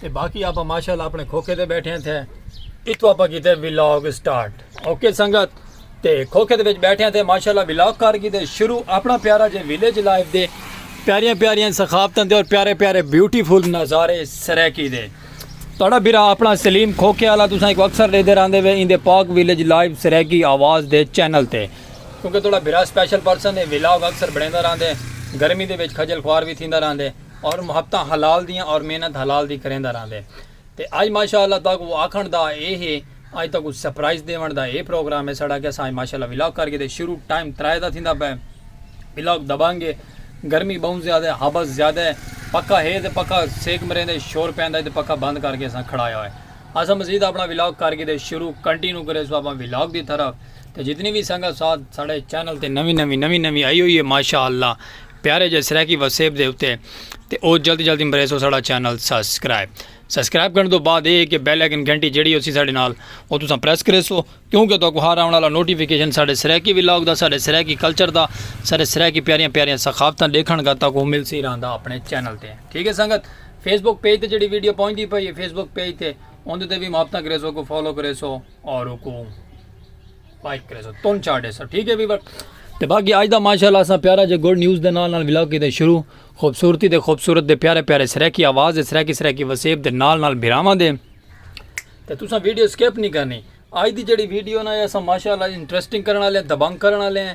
تے باقی آپاں ماشاءاللہ اپنے کھوکھے تے بیٹھے ہیں تھے اتھو آپاں کیتے ویلاگ سٹارٹ اوکے سنگت تے کھوکھے تے وچ بیٹھے ہیں تھے ماشاءاللہ ویلاگ کار کیتے شروع اپنا پیارا جے ویلیج لائف دے پیاریاں پیاریاں ثقافتاں دے اور پیارے پیارے بیوٹیفل نظارے سریکی دے تڑا بیرا اپنا سلیم کھوکھے والا تساں ایک اکثر لے دے راندے وے ان دے پاک ویلیج لائف سریکی آواز دے چینل تے کیونکہ تڑا بیرا سپیشل پرسن ہے ویلاگ اکثر بڑھے دا راندے گرمی دے وچ کھجل خوار بھی تھی دا راندے اور محبتاں حلال دیاں اور محنت حلال دی کریندا رہندے تے اج ماشاءاللہ تہاکوں آکھنڑ دا اے ہے اج تہاکوں سرپرائز ڈیونڑ دا اے پروگرام ہے ساڑا کہ اساں اج ماشاءاللہ ولاگ کر گھدے شروع ٹائم ترائے دا تھیندا پئے ولاگ دبنگ ہے گرمی بہوں زیادہ ہے ہبس زیادہ ہے پکھا ہے تے پکھا سیک مریندے شور پیندا ہے تے پکھا بند کر کے اساں کھڑایا ہوئے اساں مزید اپنا ولاگ کر گھدے شروع کنٹینیو کریسو اپنا ولاگ دی طرف تے جتنی وی سنگت ساتھ ساڈے چینل تے نوی نوی نوی نوی آئی ہوئی ہے ماشاءاللہ پیارے جے سرائیکی وسیب دے اتے تے او جلدی جلدی مریسو ساڈا چینل سبسکرائب سبسکرائب کرن تو بعد اے کہ بیل آئیکن گھنٹی جیڑی ہوسی ساڈے نال او تساں پریس کریسو کیونکہ تاکو ہر آون والا نوٹیفیکیشن ساڈے سرائیکی ولاگ دا ساڈے سرائیکی کلچر دا ساڈے سرائیکی پیاریاں پیاریاں ثقافتاں ڈیکھن گا تاکو ملسی رہندا اپنے چینل تے ٹھیک ہے سنگت فیس بک پیج تے جیڑی ویڈیو پہنچدی پئی ہے فیس بک پیج تے اوندے تے وی محبتاں کریسو کو فالو کریسو اور اوکو لائک کرے سو تون چار دے سو ٹھیک ہے ویور تے باقی آج دا ماشاءاللہ اساں پیارا جے گڈ نیوز دے نال نال ولاگ کیتے شروع خوبصورتی دے خوبصورت دے پیارے پیارے سریکی آواز دے سریکی سریکی وسیب دے نال نال بھراواں دے تے تساں ویڈیو سکپ نہیں کرنی آج دی جڑی ویڈیو نا اساں ماشاءاللہ انٹرسٹنگ کرن والے دبنگ کرن والے ہیں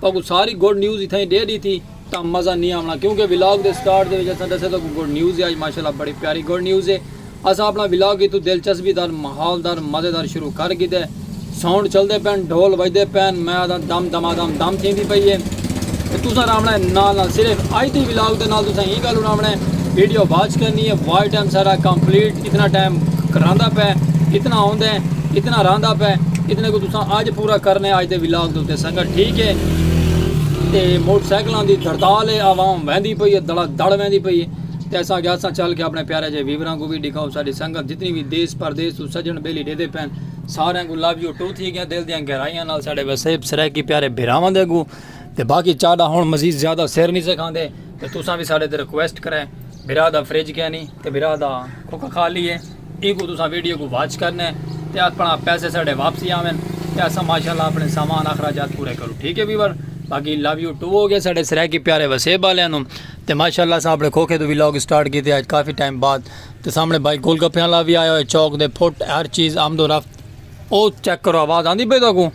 تہاکوں ساری گڈ نیوز اتھاں ہی ڈے ڈیتی تاں مزہ نی آونڑاں کیونکہ ولاگ دے سٹارٹ دے وچ اساں ڈسیا تہاکوں گڈ نیوز اے اج ماشاءاللہ بڑی پیاری گڈ نیوز اے اساں اپنڑاں ولاگ اتھوں دلچسپی دار ماحول دار مزے دار شروع کر گھیدے ساؤنڈ چلدے پین ڈھول وجدے پین میں آدھاں دم دما دم دم تھیندی پئی اے تے تساں راونڑاں اے نال نال صرف اج دی ولاگ دے نال تساں ایں گالھ اڑاونڑاں اے ویڈیو واچ کرنی اے واچ ٹائم ساڈا کمپلیٹ اتنا ٹائم کراندا پئے اتنا آوندا ہے اتنا راندا پئے اتنے کو تساں اج پورا کرنے اج دے ولاگ دے اوتے سنگت ٹھیک ہے تے موٹر سائیکلاں دی دھڑتال ہے عوام ویندی پئی ہے دڑا دڑ ویندی پئی ہے تے اساں گیا اساں چل کے اپنے پیارے جے ویوراں کو بھی ڈکھاؤ ساری سنگت جتنی بھی دیس پردیس تو سجن بیلی ڈیدے پین سارے کو لو یو ٹو تھی گیا دل دیاں گہرائیاں نال ساڈے وسیب سرائیکی پیارے بھراواں دے گو تے باقی چاڈا ہن مزید زیادہ سر نہیں سکھاندے تے تساں بھی ساڈے تے ریکویسٹ کرے بھرا دا فرج کینی تے بھرا دا کھوکا خالی ہے اینکوں تساں ویڈیو کوں واچ کرنے تے اپنا پیسے ساڈے واپسی آون تے اساں ماشاءاللہ اپنے سامان اخراجات پورے کروں ٹھیک ہے ویور باقی لو یو ٹو ہو گیا ساڈے سرائیکی پیارے وسیب والے نو تے ماشاءاللہ اساں اپنے کھوکھے تو ویلاگ سٹارٹ کیتے اج کافی ٹائم بعد تے سامنے بھائی گول گپیاں لا وی آیا ہوئے چوک دے پھٹ ہر چیز آمد و رفت او چیک کرو آواز آندی پئی تاکو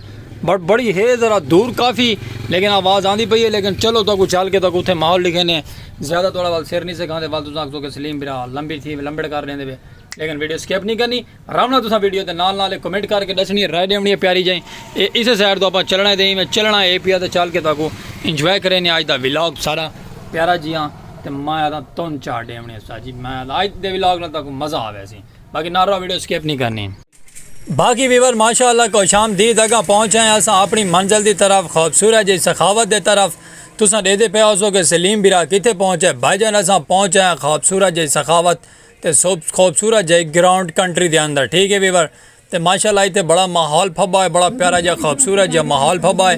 بڑ بڑی ہے ذرا دور کافی لیکن آواز آندی پئی ہے لیکن چلو تاکو چل کے تاکو تھے ماحول لکھے نے زیادہ توڑا وال سر نہیں سکھا دے وال تو ساکھ تو کہ سلیم برا لمبی تھی لمبڑ کر لیندے بے لیکن ویڈیو سکیپ نہیں کرنی رامنا تو ساں ویڈیو تے نال نال کمنٹ کر کے دسنی ہے رائے دیونی ہے پیاری جائیں اے اسے سائڈ تو اپا چلنا ہے دیں میں چلنا ہے اے پیا تے چل کے تاکو انجوائے کرے نے آج دا ویلاگ سارا پیارا جیاں تے میں آدھا تون چاہ دیونی ہے سا جی میں آدھا آج دے ویلاگ نہ تاکو مزہ آوے سی باقی نہ رو ویڈیو سکپ نہیں کرنی باقی ویور ماشاء اللہ کو شام دید اگاں پہنچ آئے اساں اپنی منزل دی طرف خوبصورت جی سخاوت دے طرف تساں ڈیدے پہ ہو سو کہ سلیم برا کتے پہنچ ہے بھائی جان اساں پہنچ آئے خوبصورت جی سخاوت تے خوبصورت جی گراؤنڈ کنٹری دے اندر ٹھیک ہے ویور تے ماشاء اللہ ایتھے بڑا ماحول پھبا ہے بڑا پیارا جا خوبصورت جا ماحول پھبا ہے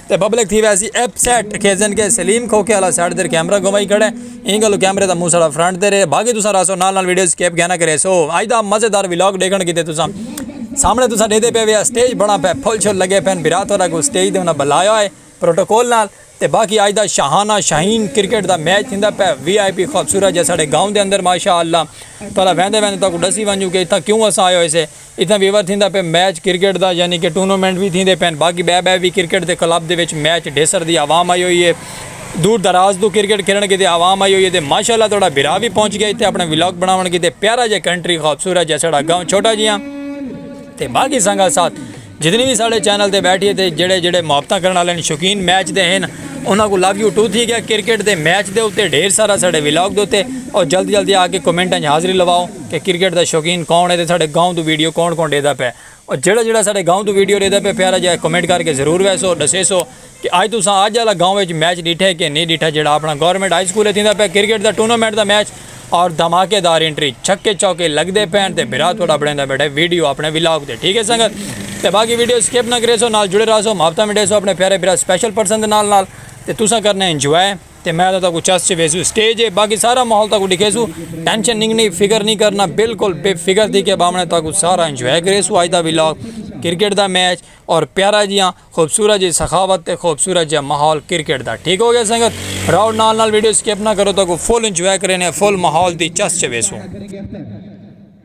تے پبلک تھی ویسی اپ سیٹ کھیزن کے سلیم کھوکے والا سائیڈ دیر کیمرہ گھمائی کھڑے این گلو کیمرے دا منہ سڑا فرنٹ دے رہے باقی تساں راسو نال نال ویڈیو سکیپ گھنا کرے سو آج دا مزیدار ویلاگ ڈیکھن کیتے تساں سامنے تساں دے دے پے ویا سٹیج بنا پے پھول چھول لگے پین برا تھوڑا کو سٹیج دے انہاں بلایا ہے پروٹوکول نال تے باقی آج دا شاہانہ شاہین کرکٹ دا میچ تھیندا پے وی آئی پی خوبصورت جے ساڈے گاؤں دے اندر ماشاءاللہ تھوڑا ویندے ویندے تاکو ڈسی ونجو کہ اتھا کیوں اساں آئے ہوئے سے اتھاں ویور تھیندا پئے میچ کرکٹ دا یعنی کہ ٹورنامنٹ وی تھیندے پئن باقی بئے بئے وی کرکٹ دے کلب دے وچ میچ ڈھیسر دی عوام آئی ہوئی اے دور دراز توں کرکٹ کھیلݨ کیتے عوام آئی ہوئی اے تے ماشاءاللہ تہاڈا بھرا وی پہنچ گیا اتھے اپݨا ولاگ بݨاوݨ کیتے پیارا جیہا کنٹری خوبصورت جیہا ساڈا گاؤں چھوٹا جیہا تے باقی سنگت ساتھ جتنی وی ساڈے چینل تے بیٹھی اے تے جیہڑے جیہڑے محبتاں کرݨ آلے ہن شوقین میچ دے ہن انہاں کوں لو یو ٹو تھی گیا کرکٹ دے میچ دے اتے ڈھیر سارا ساڈے ولاگ دے اتے اور جلدی جلدی آ کے کمنٹاں اچ حاضری لواؤ کہ کرکٹ دا شوقین کون ہے تے ساڈے گاؤں توں ویڈیو کون کون ڈیدا پئے اور جیڑا جیڑا ساڈے گاؤں توں ویڈیو ڈیدا پئے پیارا جیہا کمنٹ کر کے ضرور ویسو ڈسیسو کہ اج تساں اج آلا گاؤں وچ میچ ڈیٹھا ہے کہ نی ڈیٹھا جیڑا اپنا گورنمنٹ ہائی سکول تھیندا پئے کرکٹ دا ٹورنامنٹ دا میچ اور دھماکے دار انٹری چھکے چوکے لگدے پین تے بھرا تہاڈا بنیندا بیٹھے ویڈیو اپنے ولاگ تے ٹھیک ہے سنگت تے باقی ویڈیو سکپ نہ کریسو نال جڑے راہسو محبتاں ونڈیسو اپنے پیارے بھرا سپیشل پرسن دے نال نال تے تساں کرنے انجوائے تے میں تہاکوں چس چ ویسوں سٹیج ہے باقی سارا ماحول تہاکوں ڈکھیسوں ٹینشن نگنی فکر نی کرنا بالکل بے فکر تھی کے بامنہ تہاکوں سارا انجوائے کریسوں اج دا ولاگ کرکٹ دا میچ اور پیارا جیاں خوبصورت جی سخاوت تے خوبصورت جیاں ماحول کرکٹ دا ٹھیک ہو گیا سنگت راؤ نال نال ویڈیو سکپ نہ کرو تہاکوں فل انجوائے کرینے فل ماحول دی چس چ ویسوں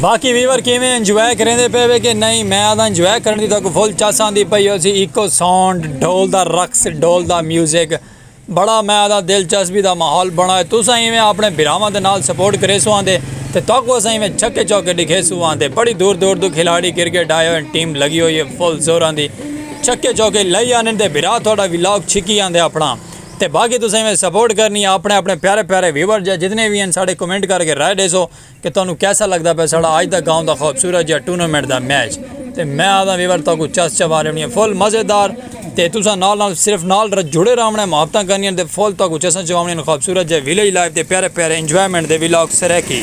باقی ویور کیویں انجوائے کریندے پے وے کہ نہیں میں آدھا انجوائے کرن دی تاکو فل چاس آندی پئی ہو سی ایکو ساؤنڈ ڈھول دا رقص ڈھول دا میوزک بڑا میں آدھا دلچسپی دا ماحول بنا ہے تساں ایویں اپنے بھراواں دے نال سپورٹ کریسو آندے تے تاکو اساں ایویں چھکے چوکے ڈکھیسو آندے بڑی دور دور دو کھلاڑی کرکٹ آئے ہوئے ٹیم لگی ہوئی ہے فل زوراں دی چھکے چوکے لئی آندے بھرا تھوڑا ولاگ چھکی آندے اپنا تے باقی تساں ایویں سپورٹ کرنی یا اپنے اپنے پیارے پیارے ویور جا جتنے وی ہیں ساڈے کمنٹ کر کے رائے ڈیسو کہ تانوں کیسا لگدا پیا ساڈا اج دا گاؤں دا خوبصورت جا ٹورنامنٹ دا میچ تے میں آدھا ویور تاکو چس چوا لینی ہے فل مزیدار تے تساں نال نال صرف نال جڑے راونے محبتاں کرنی تے فل تاکو چساں چواونی خوبصورت جا ویلیج لائف تے پیارے پیارے انجوائمنٹ دے ولاگ سرائیکی۔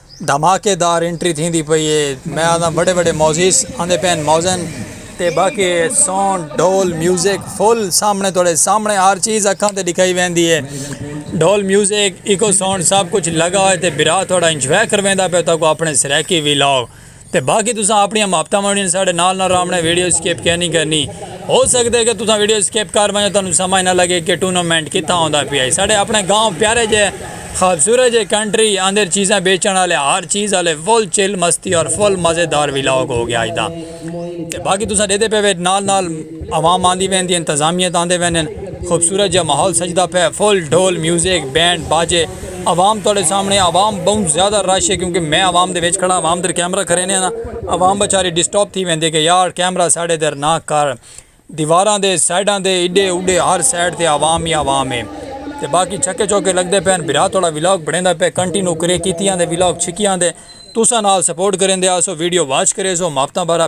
دھماکے دار انٹری تھیندی پئی اے میں آکھداں وڈے وڈے موزیس آندے پئن موزن تے باقی سونڈ ڈھول میوزک فل سامنے تہاڈے سامنے ہر چیز اکھاں تے ڈکھائی ویندی اے ڈھول میوزک ایکو سونڈ سب کچھ لگا ہوئے تے برا تہاڈا انجوائے کرویندا پئے تہاکوں اپنے سرائیکی وی لاؤ۔ تے باقی تساں اپنیاں محبتاں ونڈنیاں ساڈے نال نہ راونا ویڈیو سکپ کیا نہیں کرنی ہو سکدا ہے کہ تساں ویڈیو سکپ کر ونجو تانوں سمجھ نہ لگے کہ ٹونامنٹ کتھاں ہوندا پیا ہے ساڈے اپنے گاؤں پیارے جے خوبصورت جے کنٹری اندر چیزاں بیچن والے ہر چیز والے فل چل مستی اور فل مزیدار ویلاگ ہو گیا اج دا تے باقی تساں دیدے پے نال نال عوام آندی ویندی انتظامیہ تاندے ویندن خوبصورت جے ماحول سجدا پے فل ڈھول میوزک بینڈ باجے عوام تہاڈے سامنے عوام بہوں زیادہ رش ہے کیونکہ میں عوام دے وچ کھڑا عوام تیر کیمرہ کھرینے نا عوام بچاری ڈسٹرب تھی ویندے کہ یار کیمرہ ساڈے تیر نا کر دیواراں دے سائیڈاں دے ایڈے اوڈے ہر سائیڈ تے عوام ہی عوام ہے تے باقی چھکے چوکے لگدے پین بھرا تہاڈا ولاگ بنیندا پے کنٹینو کرے کیتی آندے ولاگ چھکی آندے تساں نال سپورٹ کریندے آسو ویڈیو واچ کریسو مافتاں بارا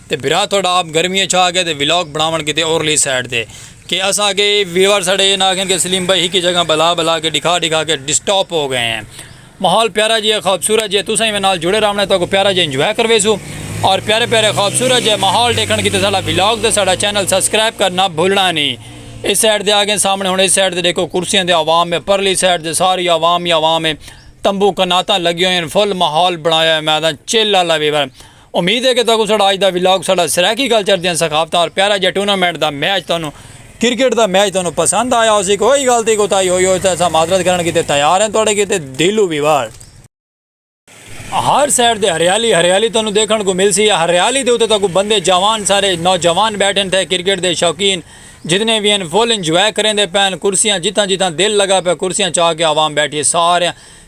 تے بھرا تہاڈا آپ گرمی اچ آ گئے تے ولاگ بناون کیتے اورلی سائیڈ تے کہ اساں اگے ویور ساڈے ایہ نہ آکھن کہ سلیم بھائی ہکی جگہ بلا بلا کے ڈکھا ڈکھا کے ڈسٹاپ ہو گئے ہیں ماحول پیارا جیہے خوبصورت جیہے تساں ایویں نال جڑے راونے تہاکوں پیارا جیہے انجوائے کرویسو اور پیارے پیارے خوبصورت جیہے ماحول ڈیکھن کیتے ساڈا ولاگ تے ساڈا چینل سبسکرائب کرنا بھولنا نی اس سائیڈ تے آ گئے سامنے ہن اس سائیڈ تے ڈیکھو کرسیاں تے عوام ہے پرلی سائیڈ تے ساری عوام ہی عوام ہے تمبو کناتاں لگی ہوئیں فل ماحول بنایا ہوئے میں آکھداں چل آلا ویور امید ہے کہ تہاکوں ساڈا اج دا ولاگ ساڈا سرائیکی کلچر دیاں ثقافتاں اور پیارا جیہا ٹورنامنٹ دا میچ تہانوں کرکٹ دا میچ تہانوں پسند آیا ہوسی کوئی گل تھی کوتاہی ہوئی ہوسی تاں اساں معذرت کرݨ کیتے تیار ہیں تہاڈے کیتے دلوں ویوارڈ۔ ہر سائیڈ تے ہریالی ہریالی تہانوں دیکھݨ کوں ملسی یا ہریالی دے اتے تہاکوں بندے جاوان سارے نوجوان بیٹھے ہن تھے کرکٹ دے شوقین جتنے وی ہن فل انجوائے کریندے پئے ہن کرسیاں جتھاں جتھاں دل لگا پئے کرسیاں چا کے عوام بیٹھی ہے ساریاں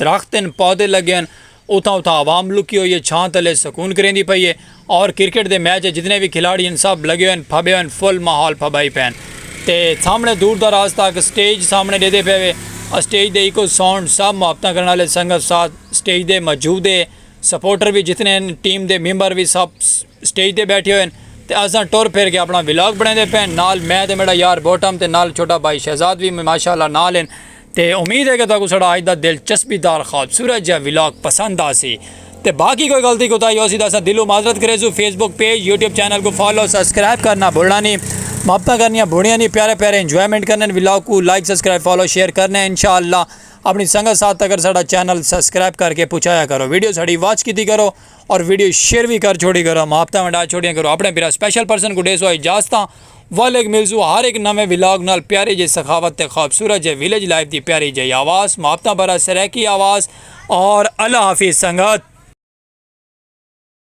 درخت ہن پودے لگے ہن اتھاں اتھاں عوام لکی ہوئی ہے چھاں تلے سکون کریندی پئی ہے اور کرکٹ دے میچ اچ جتنے وی کھلاڑی ہن سب لگے ہوئے ہن پھبے ہوئے ہن فل ماحول پھبائی پئے ہن تے سامنے دور دراز تک سٹیج سامنے ڈیدے پئے وے اسٹیج دے ایکو ساؤنڈ سب محبتاں کرن آلے سنگت ساتھ سٹیج دے موجود ہے سپورٹر وی جتنے ہن ٹیم دے ممبر وی سب سٹیج دے بیٹھے ہوئے ہن تے اساں ٹر پھر کے اپنا ولاگ بنیندے پئے ہن نال میں تے میڈا یار بوٹم تے نال چھوٹا بھائی شہزاد وی ماشاءاللہ نال ہن تے امید ہے کہ تہاکوں ساڈا اج دا دلچسپی دار خوبصورت جیہا ولاگ پسند آسی تے باقی کوئی غلطی کوتاہی ہوسی تاں اساں دلوں معذرت کریسوں Facebook page YouTube channel کوں فالو سبسکرائب کرنا بھلنا نی محبتاں کرنیاں بھونیاں نی پیارے پیارے انجوائمنٹ کرنے ولاگ کوں لائک سبسکرائب فالو شیئر کرنے انشاءاللہ اپنی سنگت ساتھ تکر ساڈا چینل سبسکرائب کر کے پہنچایا کرو ویڈیو ساڈی واچ کیتی کرو اور ویڈیو شیئر وی کر چھوڑی کرو محبتاں ونڈا چھوڑیاں کرو اپنے بھرا سپیشل پرسن کوں ڈیسو اجازتاں ولیگ میلزو ہر ہک نویں ولاگ نال پیاری جئی سخاوت تے خوبصورت جئے ولیج لائف دی پیاری جئی آواز محبتاں بھرا سرائیکی آواز اور اللہ حافظ سنگت۔